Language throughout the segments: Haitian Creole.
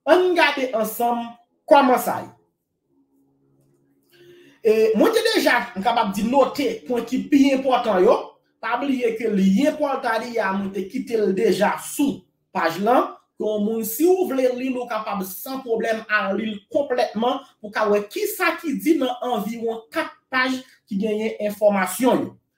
Ann gade ansanm kòman sa ye. E, mwen te deja, m kapab di note pwen ki pi enpòtan yo. Pa bliye ke lyen Pòltadi a mwen te kite l deja sou paj lan. Yon moun si ou vle li l ou kapab san pwoblèm al li l konplètman pou w ka wè kisa ki di nan anviwon 4 paj ki genyen enfòmasyon yo.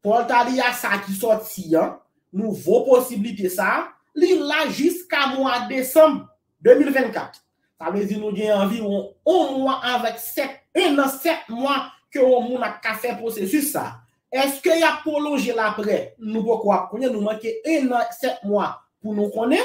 Portalia sa ki sòti an, nouvo posiblite sa, li la jiska mwa desanm 2024. Sa vle di nou gen anviwon on mwa avèk 7, un an 7 mwa ke on moun ap ka fè pwosesis sa. Eske y ap pwolonje l aprè? Nou poko ap konnen, nou manke un an 7 mwa pou nou konnen,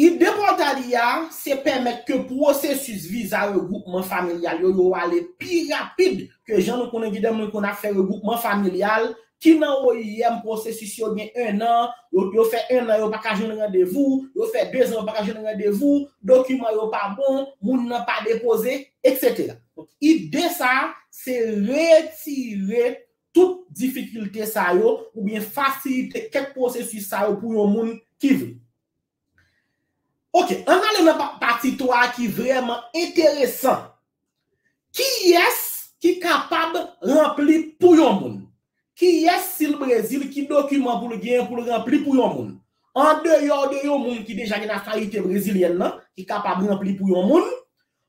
Ide Portalia a se pèmèt ke pwosesis viza regwoupman familyal yo yo ale pi rapid ke jan nou konnen gen de moun ki konn ap fè regwoupman familyal ki nan oim pwosesis yo gen 1 an, yo fè 1 an yo pa ka jwenn randevou, yo fè 2 zan yo pa ka jwenn randevou, dokiman yo pa bon, moun nan pa depoze, etc. Donk ide sa a se retire tout difikilte sa yo oubyen fasilite kèk pwosesis sa yo pou yon moun ki vle. Ok, an n ale nan pati 3 a ki vrèman enteresan. Kiyès ki kapab ranpli pou yon moun? Kiyès si l Brezil ki dokiman pou l genyen pou l ranpli pou yon moun? Andeyò de yon moun ki deja gen nasyonalite brezilyèn nan ki kapab ranpli pou yon moun,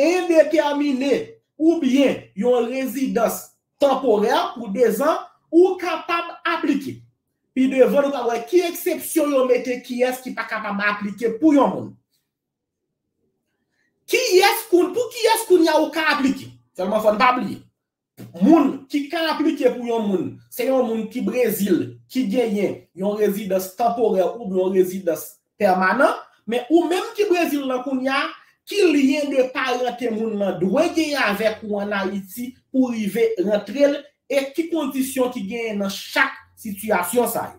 endetèmine oubyen yon rezidans tanporè pou dezan, ou kapab aplike. Pi devan nou pral wè ki eksepsyon yo mete kiyès ki pa kapab aplike pou yon moun. Kiyès, pou kiyès kounye a ou ka aplike? Sèlman fò n pa bliye, Moun ki ka aplike pou yon moun se yon moun ki Brezil ki genyen yon rezidans tanporè oubyen yon rezidans pèmanan, men ou menm ki Brezil lan kounya, ki lyen de parante moun lan dwe genyen avèk ou an Ayiti pou rive rantre l e ki kondisyon ki genyen nan chak sitiyasyon sa yo.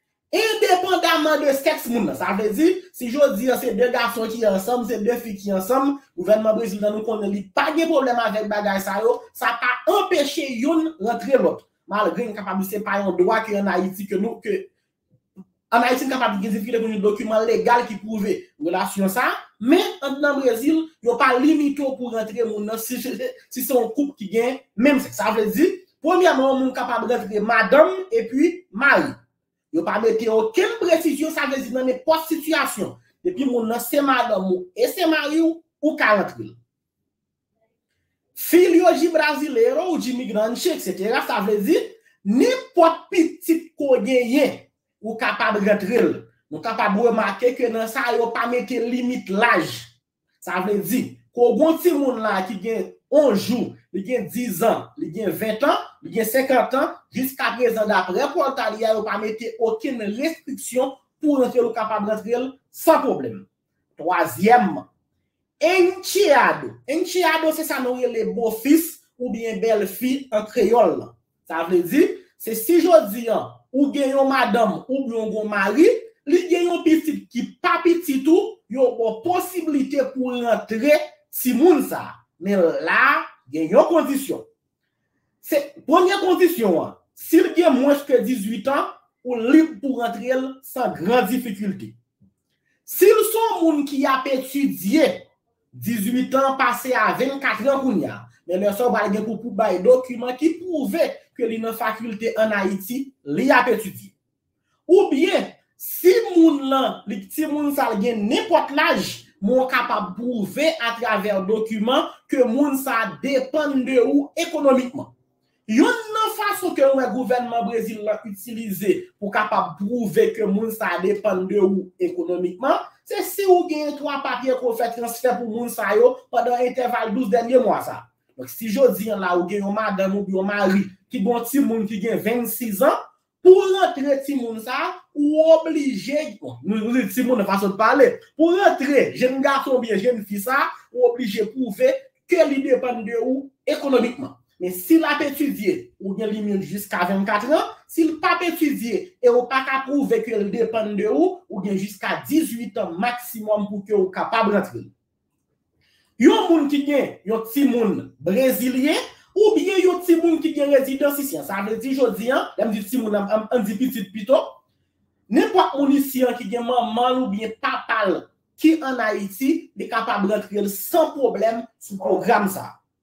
Endepandaman de sèks moun nan, sa vle di, si jodi an se 2 gason ki ansanm, se 2 fi ki ansanm, gouvènman Brezil nan nou konnen li pa gen pwoblèm avèk bagay sa yo, sa pa anpeche youn rantre lòt. Malgre n kapab di se pa yon dwa ke an Ayiti ke nou, ke an Ayiti n kapab gen difikilte pou n jwenn dokiman legal ki pwouve relasyon sa, men an nan Brezil, yo pa limite w pou rantre moun nan si se yon koup ki gen menm sèks. Sa vle di, Premyèman yon moun kapab rantre madanm epi mari. Yo pa mete okenn presizyon sa vle di nan nenpòt sitiyasyon depi moun nan se madanm ou e se mari w ou ka rantre l. Filho de brasileiro ou de imigrante etc sa vle di nenpòt pitit ke w genyen ou kapab rantre l. Nou kapab remake ke nan sa yo pa mete limit laj Sa vle di, ko gon timoun la ki gen 11 jou, li gen 10 an, li gen 20 tan, li gen 50 tan, jiskaprezan daprè Portalia yo pa mete okenn restriksyon pou rantre l ou kapab rantre l san pwoblèm. Twazyèmman, encheado, encheado se sa nou rele bofis oubyen bèlfi an kreyòl lan. Sa vle di, se si jodi an, ou gen yon madanm oubyen ou gen yon mari, li gen yon pitit ki pa pitit ou, yo ba w posiblite pou w rantre timoun sa a. Men la a, gen yon kondisyon. Se, premye kondisyon an, si l gen mwens ke 18 an, ou lib pou w rantre l san gran difikilte. Si l se yon moun ki ap etidye, 18 an pase a 24 an kounya, men lè sa w pral gen pou pou bay dokiman ki pwouve ke li nan fakilte an Ayiti li ap etidye. Ou byen, si moun lan, li, si moun sa l gen nenpòt laj, men w kapab pwouve atravè dokiman ke moun sa depann de ou ekonomikman. Youn nan fason ke m wè gouvènman Brezil lan itilize pou kapab pwouve ke moun sa depann de ou ekonomikman, se si ou genyen 3 papye ke w fè transfè pou moun sa yo pandan entèval 12 dènye mwa sa. Donk si jodi an la ou gen yon madanm oubyen yon mari ki gen yon timoun ki gen 26 an, Pou w rantre timoun sa a, ou oblije, bon, nou di timoun nan fason n pale, pou w rantre jenn gason oubyen jenn fi sa a, ou oblije pwouve ke li depann de ou ekonomikman. Men si l ap etidye, ou gen limit jiska 24 an, si l p ap etidye e ou pa ka pwouve ke l depann de ou, ou gen jiska 18 an maksimòm pou ke ou kapab rantre. Yon moun ki gen yon timoun brezilyen oubyen yon timoun ki gen rezidans isi an, sa vle di jodi an, lè m di timoun an, an n di pitit pito, nenpòt moun isi an ki gen manman l oubyen papa l ki ann Ayiti, li kapab rantre l san pwoblèm sou pwogram sa a.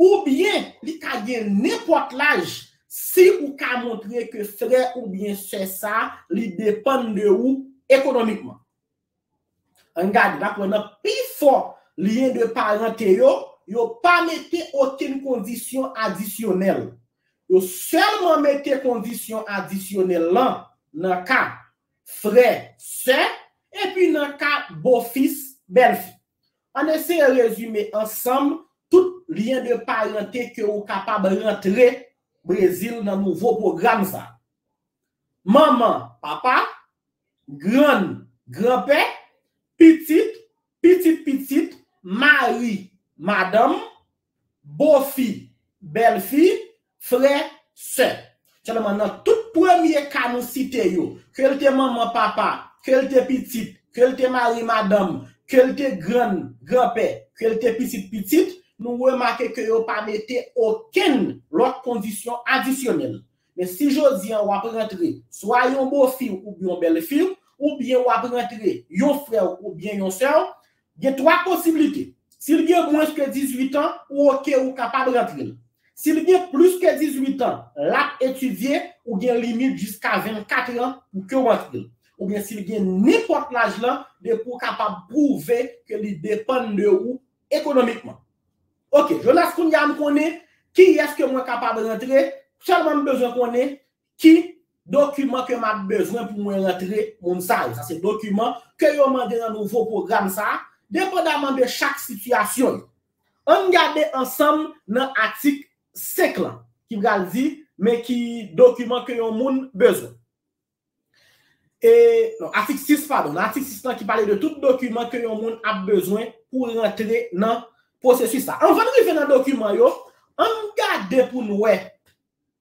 Oubyen li ka gen nenpòt laj si ou ka montre ke frè oubyen sè sa li depann de ou ekonomikman. Ann gade, n ap wè nan pifò lyen de parante yo, yo pa mete okenn kondisyon adisyonèl. Yo sèlman mete kondisyon adisyonèl lan nan ka frè, sè, epi nan ka bofis, bèlfi. Ann eseye rezime ansanm tout lyen de parente ke ou kapab rantre Brezil nan nouvo pwogram sa a. Manman, papa, grann, granpè, pitit, pitit pitit, mari, madanm, Bofi, bèlfi, frè, sè. Sèlman nan tout premye ka nou site yo, ke l te manman, papa, ke l te pitit, ke l te mari, madanm, ke l te grann, granpè, ke l te pitit, pitit, nou remake ke yo pa mete okenn lòt kondisyon adisyonèl. Men si jodi an w ap rantre swa yon bofi w oubyen yon bèlfi w, oubyen w ap rantre yon frè w oubyen yon sè w, Gen 3 posiblite, si l gen mwens ke 18 an, ou ok ou kapab rantre l. Si l gen plis ke 18 an, l ap etidye, ou gen limit jiska 24 an pou ke w antre l. Oubyen si l gen nenpòt laj lan, depi w kapab pwouve ke li depann de ou ekonomikman. Ok, Jonas kounye a m konnen kiyès ke mwen kapab rantre, sèlman m bezwen konnen Ki dokiman ke map bezwen pou mwen rantre moun sa yo? Sa se dokiman ke yo mande nan nouvo pwogram sa a, depandaman de chak sitiyasyon yo. Ann gade ansanm nan atik 5 lan ki pral di men ki dokiman ke yon moun bezwen. E, non, atik 6, padon, nan atik 6 lan ki pale de tout dokiman ke yon moun ap bezwen pou rantre nan pwosesis la. Anvan n rive nan dokiman yo, ann gade pou n wè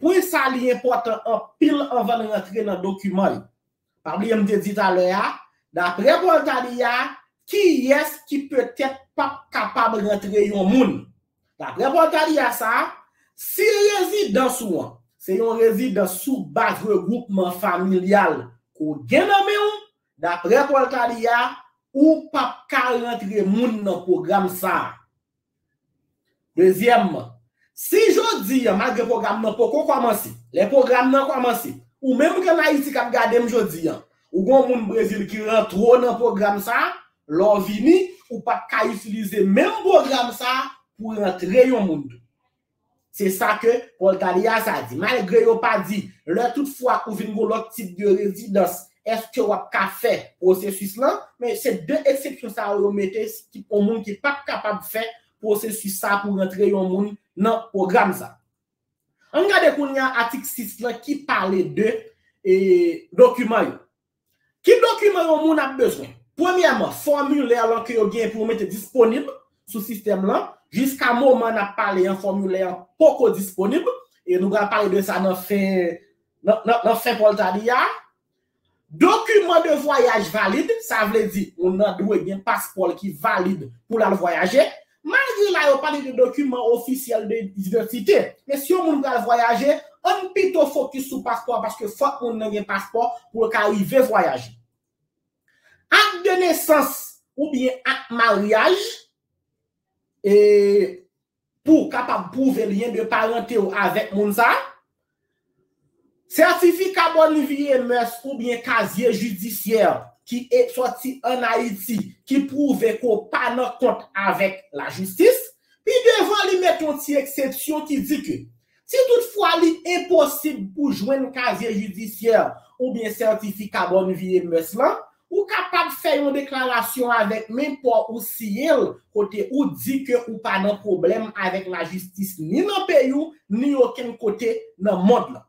Pwen sa li enpòtan anpil anvan n rantre nan dokiman yo. Pa bliye m te di talè a, daprè Voltaire a, kiyès ki petèt p ap kapab rantre yon moun? Daprè Voltaire a sa, si rezidans ou an se yon rezidans sou baz regwoupman familyal ke w gen nan men w, daprè Voltaire a, ou p ap ka rantre moun nan pwogram sa. Dezyèmman, si jodi an, malgre pwogram nan poko kòmanse, lè pwogram nan kòmanse, ou menm ki ann Ayiti k ap gade m jodi an, ou gen yon moun Brezil ki rantre w nan pwogram sa a, lè w vini, ou pap ka itilize menm pwogram sa a pou rantre yon moun tou. Se sa ke Paul Taliah sa di. Malgre yo pa di, lè tout fwa ou vin gon lòt tip de rezidans, eske wap ka fè pwosesis lan, men se 2 eksepsyon sa yo yo mete ki pou moun ki pap kapab fè pwosesis sa pou rantre yon moun nan pwogram sa. Ann gade kounye a atik 6 lan ki pale de dokiman yo. Ki dokiman yon moun ap bezwen? Premyèman, fòmilè lan ke yo genyen pou yo mete disponib sou sistèm lan. Jiska moman n ap pale an, fòmilè an poko disponib. E nou pral pale de sa nan fen nan fen Pòltadi a. Dokiman de vwayaj valid, sa vle di moun nan dwe gen paspò l ki valid pou l al vwayaje. Malgre la yo pale de dokiman ofisyèl de idantite, men si yon moun pral vwayaje, ann pito fokis sou paspò a paske fòk moun nan gen paspò pou l ka rive vwayaje. Ak de nesans oubyen ak maryaj, e pou w kapab pwouve lyen de parante w avèk moun sa a, Sètifika Bon Vi e Mès oubyen kazye jidisyè ki e sòti an Ayiti ki pwouve ke w pa nan kont avèk lajistis. Pi devan li met yon ti eksepsyon ki di ke si tout fwa li enposib pou jwenn kazye jidisyè oubyen sètifika Bon Vi e Mès lan, Ou kapab fè yon deklarasyon avèk men pa w ou siyen l kote ou di ke ou pa nan pwoblèm avèk lajistis ni nan peyi w ni okenn kote nan mond lan.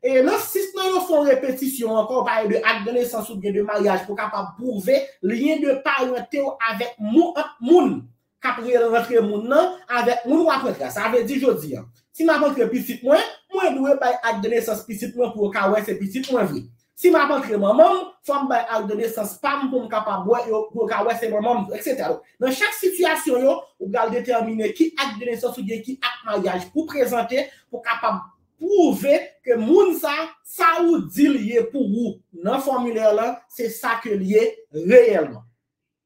E nan 6 nan yo fon repetisyon ankò, ou pale de akdenesans oubyen de maryaj pou w kapab pwouve lyen de parante w avèk mou ant moun. kap re rantre moun nan avèk moun wap rantre a sa vle di jodi an si map rantre pitit mwen mwen dwe bay ak de nesans pitit mwen pou yo ka wè se pitit mwen vre si map rantre manman m fòm bay ak de nesans pam poum kapab wè yo pou yo ka wè se manman m vre etc donk nan chak sitiyasyon yo ou pral detèmine ki ak de nesans ou byen ki ak maryaj pou prezante pou kapab pwouve ke moun sa sa ou dil ye pou ou nan fòmilè lan se sa ke l ye reyèlman.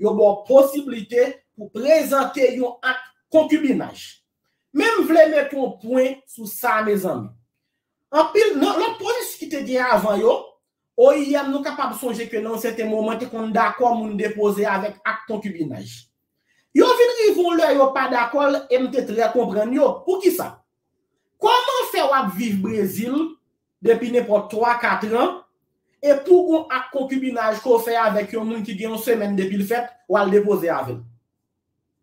Yo ba w posiblite pou w prezante yon ak konkibinaj. Men m vle mete yon pwen sou sa mezanmi. Anpil nan lòt pwosesi ki te gen avan yo, oim nou kapab sonje ke nan yon sèten moman te konn dakò moun depoze avèk ak konkibinaj. Yo vin rive yon lè yo pa dakò l e m te trè konprann yo. Poukisa? Kòman fè w ap viv Brezil depi nenpòt twa, katran, e pou gon ak konkibinaj ke w fè avèk yon moun ki gen yon semèn depi l fèt, w al depoze avè l.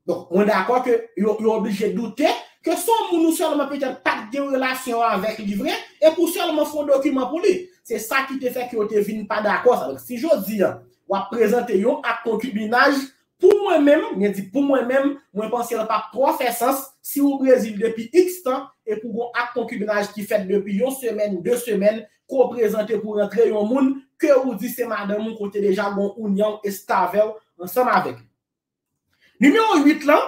Donk, mwen dakò ke yo oblije doute ke se yon moun ou sèlman petèt pa t gen yon relasyon avèk li vre, e pou sèlman fè yon dokiman pou li. Se sa ki te fè ke yo te vin pa dakò sa. Donk, si jodi a, w ap prezante yon ak konkibinaj Pou mwen menm, mwen di pou mwen menm, mwen panse l pap twò fè sans, si ou Brezil depi iks tan, e pou gon ak konkibinaj ki fèt depi yon semèn, de semèn, ke w prezante pou rantre yon moun, ke ou di se madanm ou ke w te deja gon ounyanw estavèw ansanm avèk li. Nimewo 8 lan,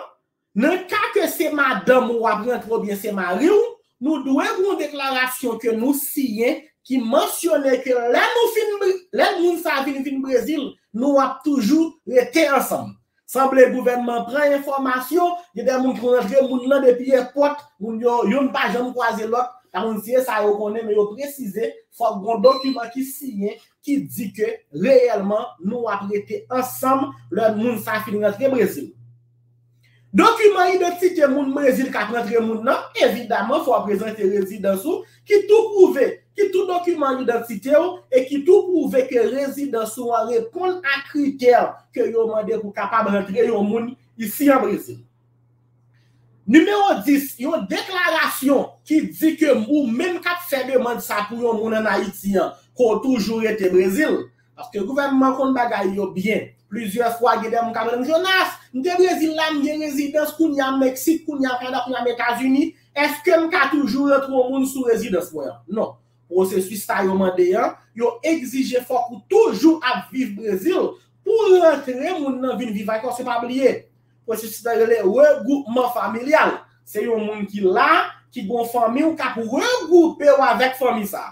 Nan ka ke se madanm ou wap rantre oubyen se mari w, nou dwe gen yon deklarasyon ke nou siyen ki mansyone ke lè nou fin, lè moun sa vin vin Brezil, nou ap toujou rete ansanm. Sanble gouvènman an pran enfòmasyon, gen de moun ki konn rantre moun lan depi èpòt, moun yo, youn pa janm kwaze lòt, pa konn si e sa yo konnen men yo presize fòk gen yon dokiman ki siyen ki di ke reyèlman nou ap rete ansanm lè moun sa fin rantre Brezil. Dokiman idantite moun Brezil k ap rantre moun nan, evidaman fò w prezante rezidans ou ki tou pwouve, ki tou dokiman idantite w e ki tou pwouve ke rezidans ou an reponn a kritè ke yo mande pou kapab rantre yon moun isi an Brezil. Nimewo 10, Yon deklarasyon ki di ke ou menm k ap fè demand sa pou yon moun an Ayiti an, ke w toujou rete Brezil, Paske gouvènman konn bagay yo byen. Plizyè fwa gen de moun kap rele m Jonas, m te Brezil la, m gen rezidans kounya m Meksik, kounya m Kanada, kounya m Etazini, eske m ka toujou rantre yon moun sou rezidans mwen an? Non. Pwosesis sa yo mande an, yo egzije fòk ou toujou ap viv Brezil pou w rantre moun nan vin viv ak ou, se pa bliye. Pwosesis la rele regwoupman familyal. Se yon moun ki la, ki gen yon fanmi ou kap regwoupe ou avèk fanmi sa.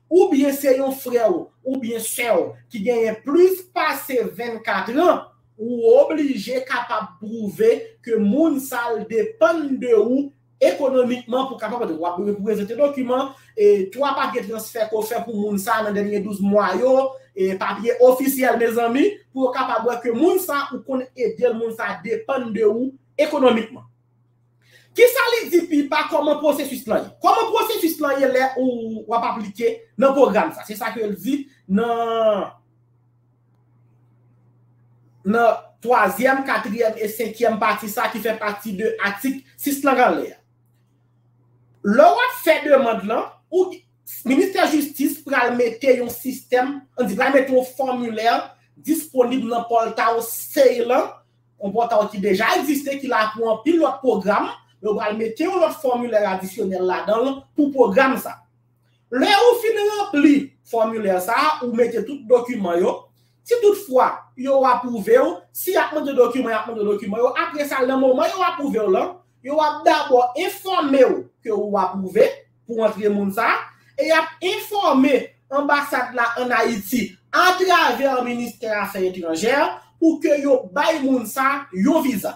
Oubyen se yon frè w oubyen sè w ki genyen plis pase 24 an, ou oblije kapab pwouve ke moun sa l depann de ou ekonomikman pou kapab ede l. W ap dwe prezante dokiman, e 3 papye transfè ke w fè pou moun sa nan dènye 12 mwa yo, e papye ofisyèl mezanmi, pou yo kapab wè ke moun sa ou konn ede l, moun sa depann de ou ekonomikman. Kisa li di pi ba kòman pwosesis lan ye? Kòman pwosesis lan ye lè ou w ap aplike nan pwogram sa? Se sa ke l di nan twazyèm, katriyèm e senkyèm pati sa ki fè pati de atik 6 lan k anlè a. Lè w ap fè demand lan, Ministè Jistis pral mete yon sistèm, an di pral mete yon fòmilè disponib nan pòlta ou save lan, Konpòta w ki deja egziste ki la pou anpil lòt pwogram, men ou pral mete yon lòt fòmilè adisyonèl ladan l pou pwogram sa. Lè ou fin ranpli fòmilè sa a, ou mete tout dokiman yo, si tout fwa yo apwouve w, si y ap mande dokiman y ap mande dokiman yo, apre sa nan moman yo apwouve w lan, yo ap dabò enfòme w ke ou apwouve, pou antre moun sa a, e y ap enfòme Anbasad la ann Ayiti atravè Ministè Afè Etranjè pou ke yo bay moun sa a yon viza.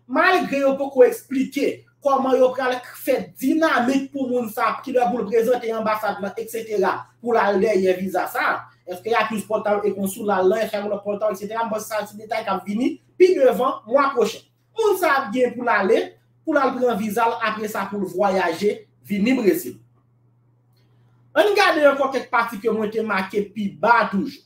Malgre yo poko eksplike kòman yo pral fè dinamik pou moun sa a, kilè pou l prezante Anbasad lan eksetera pou l al dèyè viza sa a, èske y ap jis pòtal e konsoulal lan, èske y ap nan pòtal eksetera, m panse sa se detay k ap vini pi devan mwa pwochen. Moun sa ap gen pou l ale, pou l al pran viza l apre sa pou l vwayaje vini Brezil. An n gade ankò kèk pati ke mwen te make pi ba a toujou.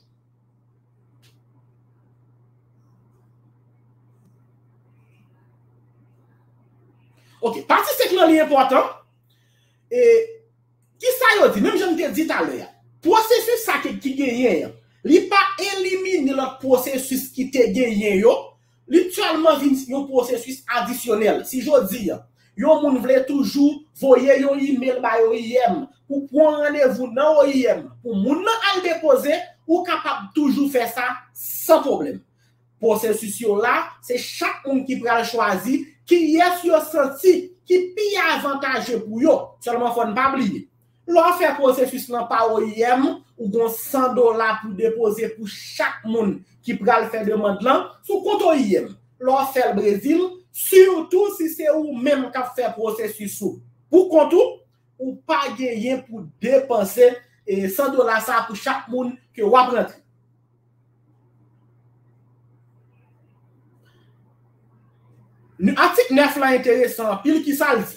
Ok, pati 5 lan li enpòtan. E, ki sa yo di? Menm jan m te di talè a, pwosesis sa ki genyen an, li pa elimine lòt pwosesis ki te genyen yo, Li tèlman vin yon pwosesis adisyonèl, si jodi yon moun vle toujou voye yon imel bay oim pou pwan randevou nan oim pou moun nan al depoze, ou kapab toujou fè sa san pwoblèm. Pwosesis yo la, se chak moun ki pral chwazi kiyès yo santi ki pi avantaje pou yo, sèlman fò n pa bliye, Lè w fè pwosesis lan pa oyem, ou gen 100 dola pou depoze pou chak moun ki pral fè demand lan sou kont oyem. Lè w fè l Brezil, sitou si se ou menm k ap fè pwosesis ou pou kont ou, ou pa genyen pou depanse 100 dola sa a pou chak moun ke w ap rantre. Atik 9 lan enteresan anpil, kisa l di?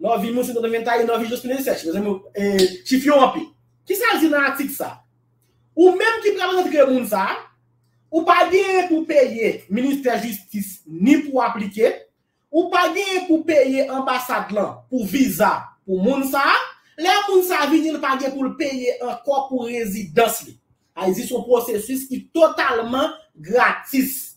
Nan vi moun se nan men tayi nan vi Jospin Elisèch. Mezanmi yo e chif yo anpil. Kisa l di nan atik sa? Ou menm ki pral rantre moun sa, ou pa genyen pou peye ministè jistis ni pou aplike, ou pa genyen pou peye anbasad lan pou viza pou moun sa, lè moun sa vini l pa gen pou l peye ankò pou rezidans li. Ayiti se yon pwosesis ki totalman gratis.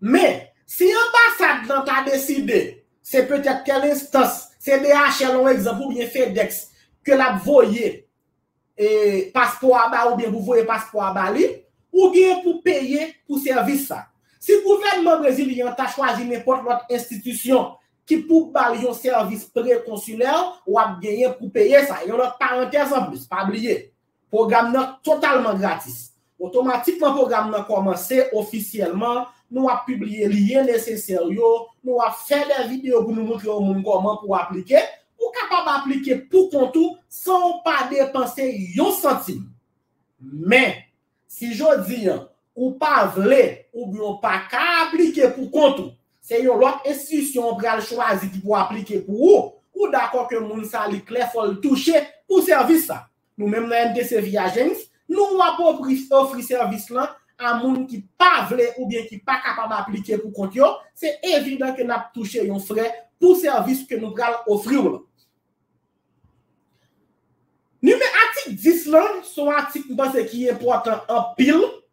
Men, si anbasad lan ta deside, se petèt tèl enstans, se DHL on egzanp oubyen FedEx, ke l ap voye paspò a ba oubyen pou voye paspò a ba li, ou gen pou peye pou sèvis sa. Si gouvènman brezilyen an ta chwazi nenpòt lòt enstitisyon ki pou ba l yon sèvis pre-konsilè, w ap genyen pou peye sa. Yon lòt parantèz anplis, pa bliye. Pwogram nan totalman gratis. Otomatikman pwogram nan kòmanse ofisyèlman, nou ap pibliye lyen nesesè yo, nou ap fè de videyo pou nou moutre yon moun kòman pou aplike, ou kapab aplike pou kont ou san ou pa depanse yon santim. Men, si jodi an ou pa vle oubyen ou pa ka aplike pou kont ou, se yon lòt enstitisyon ou pral chwazi ki pou aplike pou ou, ou dakò ke moun sa li klè fò l touche pou sèvis sa a. Nou menm nan MDC Vie Agency, nou ap ofri sèvis lan a moun ki pa vle oubyen ki pa kapab aplike pou kont yo, se evidan ke n ap touche yon frè pou sèvis ke nou pral ofri w lan. NimeAtik 10 lan se yon atik m panse ki enpòtan anpil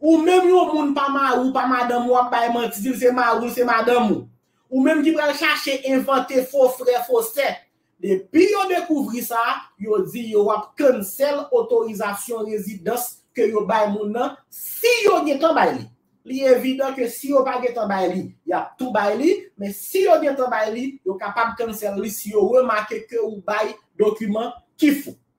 Ou menm yon moun pa mari w pa madanm ou wap bay manti di l se mari w se madanm ou. Ou menm ki pral chache envante fo frè fo sè. Depi yo dekouvri sa, yo di yo wap cancel otorizasyon rezidans ke yo bay moun nan si yo gentan bay li. Li evidan ke si yo pa gentan bay li, yap tou bay li, men si yo gentan bay li, yo kapab cancel li si yo remake ke ou bay dokiman ki fo.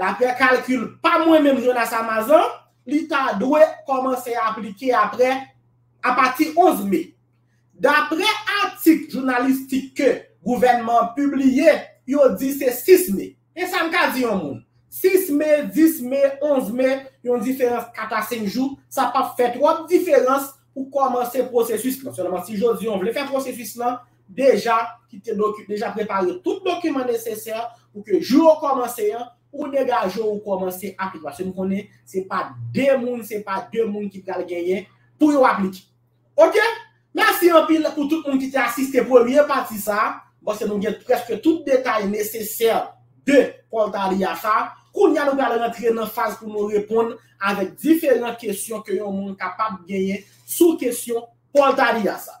Daprè kalkil pa mwen menm Jonas Amazon, li ta dwe kòmanse aplike aprè apati 11 me. Daprè atik jounalistik ke gouvènman an pibliye, yo di se 6 me. Men sa m ka di yon moun, 6 me, 10 me, 11 me, yon diferans 4 a 5 jou, sa pap fè twòp diferans pou kòmanse pwosesis lan. Sèlman si jodi an vle fè pwosesis lan, deja kite doki, deja prepare tout dokiman nesesè pou ke jou ou kòmanse an, ou degaje ou kòmanse aplike. Paske nou konnen se pa 2 moun, se pa 2 moun ki pral genyen pou yo aplike. Ok! Mèsi anpil pou tout moun ki te asiste premye pati sa a. M'panse nou gen prèske tout detay nesesè de Portalia sa a. Kounye a nou pral rantre nan faz pou nou reponn avèk diferan kesyon ke yon moun kapab genyen sou kesyon Paul Taliah sa.